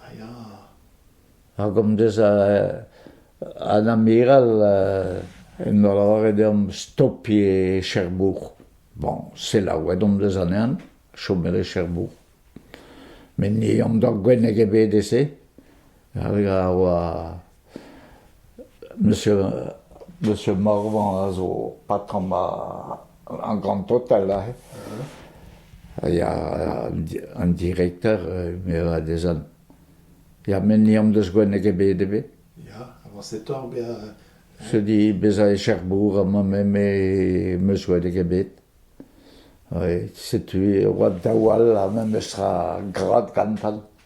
A ya. Ha komz deus an amiral en doa lavaret deomp stopiñ e Cherbourg. Bon, selaouet omp deus anezhan, chomet e Cherbourg. Met ni omp doa gwenneg ebet e se, hag a oa... Monsieur, Monsieur Morvan a zo patrom ar Grand Total aze. Ha ya an direkter a dezhan, ya met ni hon deus gwennek ebet ebet. Ya, avañsetoc'h bezañ... Se di bezañ e Cherbourg amañ me em eus gwennek ebet. Setu e oa daou all ha memes tra grad gantan.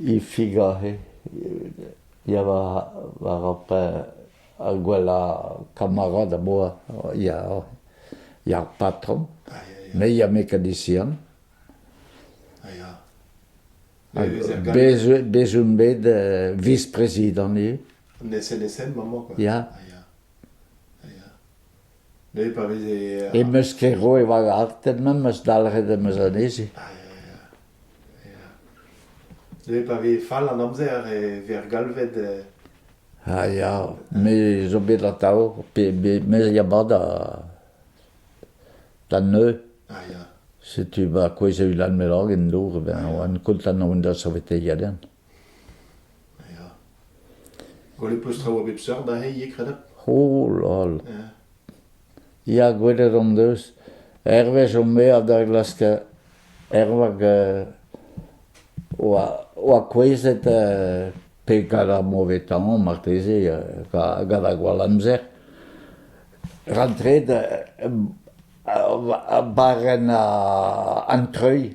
E Figaro ya war ar ar gwellañ kamarad am boa ya ar patron me ya mekanizian bez on bet viz-prezidant eo. An SNSM amañ quoi? Ya. Em eus ket roet va gartenn memes eus dalc'het em eus anezhi. Dre pa vez fall an amzer e vez galvet... A ya, me zo bet atav, me ya mat da neuze. A ya. Setu ma kouezh Ulan Melangen dour, ben oan kontant on da saveteiñ ganen. Ya. Gwell eo peus traoù a bep seurt aze ivez, kredab? O, lol. Ya, gwelet hon deus. Hervez hon mea da glask ervag euh, oa, oa kouezhet euh, pe gant ar mauvais temps marteze euh, gant ar gwall amzer rantret euh, barren an treuil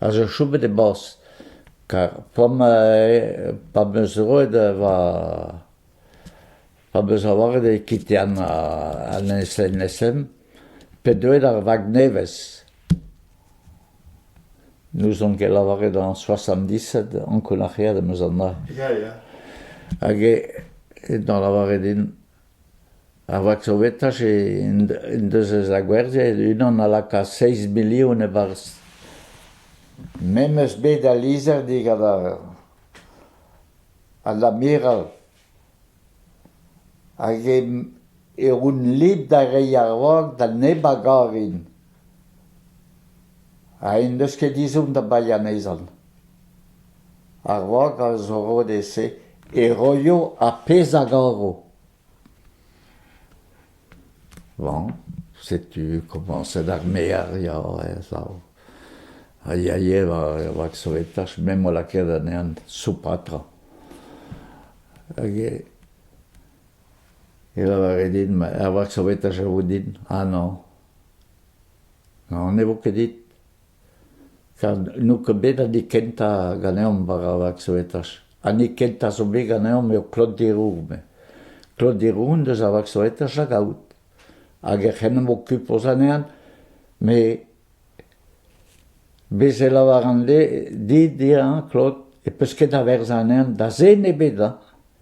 a zo chomet e-barzh kar p'am p'am eus roet va p'am eus lavaret e kitian an SNSM pe deuet ar vag nevez. N'ouzon ket lavaret an soasamdisat ankounac'heet am eus anezhañ. Hag eo da lavaret din Ar vaksovetaj en deus ez a gwerzhet unan a laka seizh milion e-barzh. Memes bed al lizher digant an amiral. Hag on lid da reiñ ar vag da neb a garin. Ha en deus ket ezhomm da baeañ anezhan. A-raok al zorrodez-se e roio ar pezh a garo. Bon, setu komañset ar mear ya, ez ao. A yae war, war sovetach, me 'mo lakaet anezhan soupatra. Hag e, e lavare din, ma, ar vak sovetach a vo din, ah non. Non ne vo ket dit. Gant n'eo ket bet an hini kentañ ganeomp war ar vaksoetach. An hini kentañ zo bet ganeomp eo Claude Deroux. Claude Deroux en deus ar vaksoetach da gaout hag ec'h en em okupoz anezhañ. Met bez' e lavaran dit, Claude, e peus ket a-werzh anezhañ da zen ebet, hañ.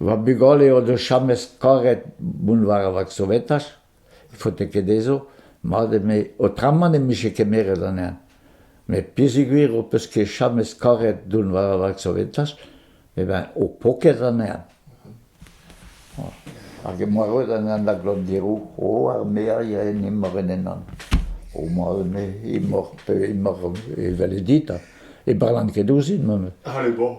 Va bugale o deus james karet mont war ar vaksovetaj, faote ket dezho, mat eme aotramant em bije kemeret anezhañ. Met peogwir ho peus ket james karet dont war ar vaksovetaj, eh ben ho po ket anezhañ. Hag emañ roet anezhañ da glannderoù. O, ar merien emañ en ennan. Homañ eme emaoc'h pe emaoc'h evel dit ha ne barran ket ouzhin memes. Allez bon.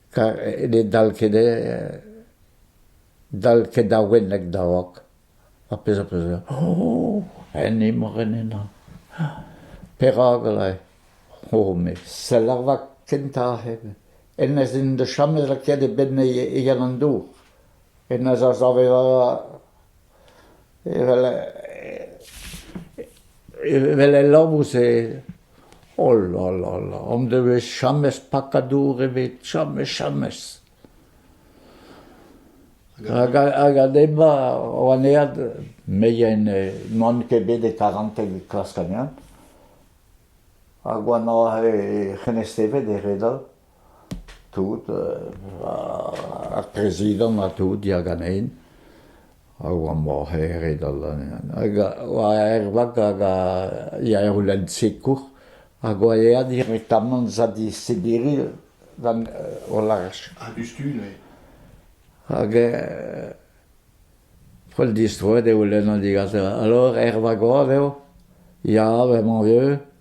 ne dal ket dal ket da wenneg da vok. Ar pezh am eus graet, oh, en imor en henañ. Perak eo? Oh, met sell ar vak kentañ hep. Hennezh n'en deus chamet lakaet e benn e Yann an Dour. Hennezh a save Evel evel el labous-se, oh la la la, hon devez james pakad dour ebet, james james. Hag hag ema an ead meien n'oant ket bet e karanten klask anezhañ, hag oa 'na he c'henestevet e re dall. Tout, ar prezidant ha tout ya ganen, a oa morc'heret hag oa ervat hag a ya er lenn sikour hag oa aet direktamant zad e Sibiri gant o laj. Ha diouzhtu neuze? Hag p'ol distroet eo lenn an digaser. Alors, er vagoad eo, ya, bremañ vieux.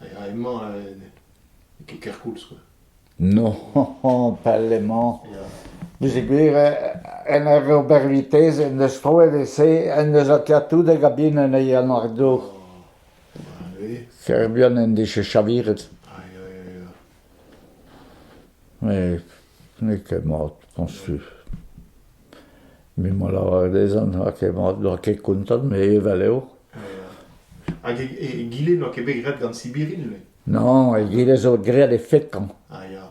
Ya, emañ n'eo ket kerkoulz quoi. Non, pell-emañ. Bezit gwir, en ur ober vitez en deus troet e-se en deus Atiatoudeg a-bin anezhi an ar dour. Ker buan en dije chaviret. Met n'eo ket mat dañs tu. Me 'mo lavaret dezhañ n'oa ket mat, n'oa ket kontant, met evel eo. Hag egile n'oa ket bet graet gant Sibirin, le? Non, egile zo graet e fetañ. Ah, ya.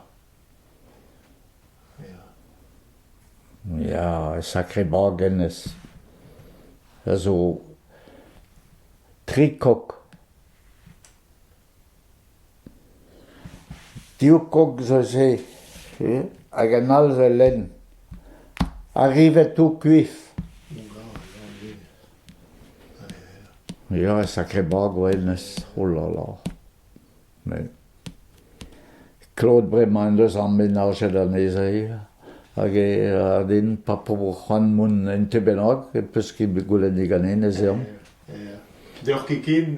Ya, e sakre bag hennezh. A zo tri kok. Div kog zo se hag an all zo lenn. Arrivet tout kuif. Ya, sakre bag oa hennezh, oh là là. Mais klod bremañ en deus ar menajet anezhañ hag e ra din pa pobl c'hoant mont en tu bennak e peus ket bet goulennet ganin ez eomp. Deoc'h ket ken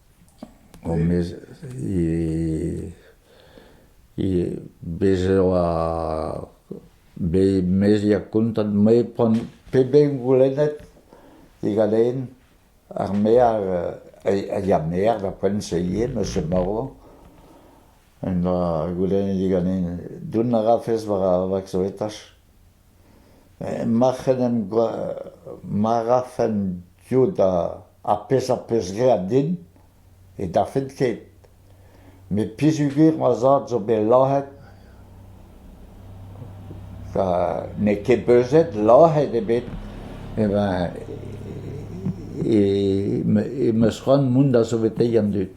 Honnezh eo bez' e oa bet meiziek kontant-me pont peben goulennet diganin ar maer a ya maer da Pontseillier monsieur Moreau en doa goulennet diganin dont a rafes war ar vaksoetach. Mac'h en em ma rafen diot ar pezh am peus graet din ne dafent ket. Met peogwir ma zad zo bet lazhet, n'eo ket beuzet lazhet ebet, em eus c'hoant mont da saveteiñ an dud.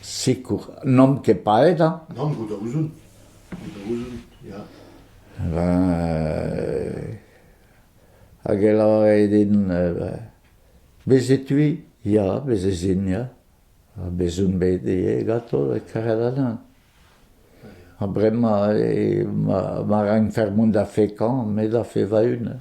Sikour. N'omp ket paeet hañ ? Nann, goût a ouzon. da ouzon, ya. Hag e lavare din, bez' e-tui? Ya, bez' ez in, ya. Ha bez' on bet ivez ganto karet anezhañ. Ha bremañ ma rankfer mont da fekañ, me da fe va-un.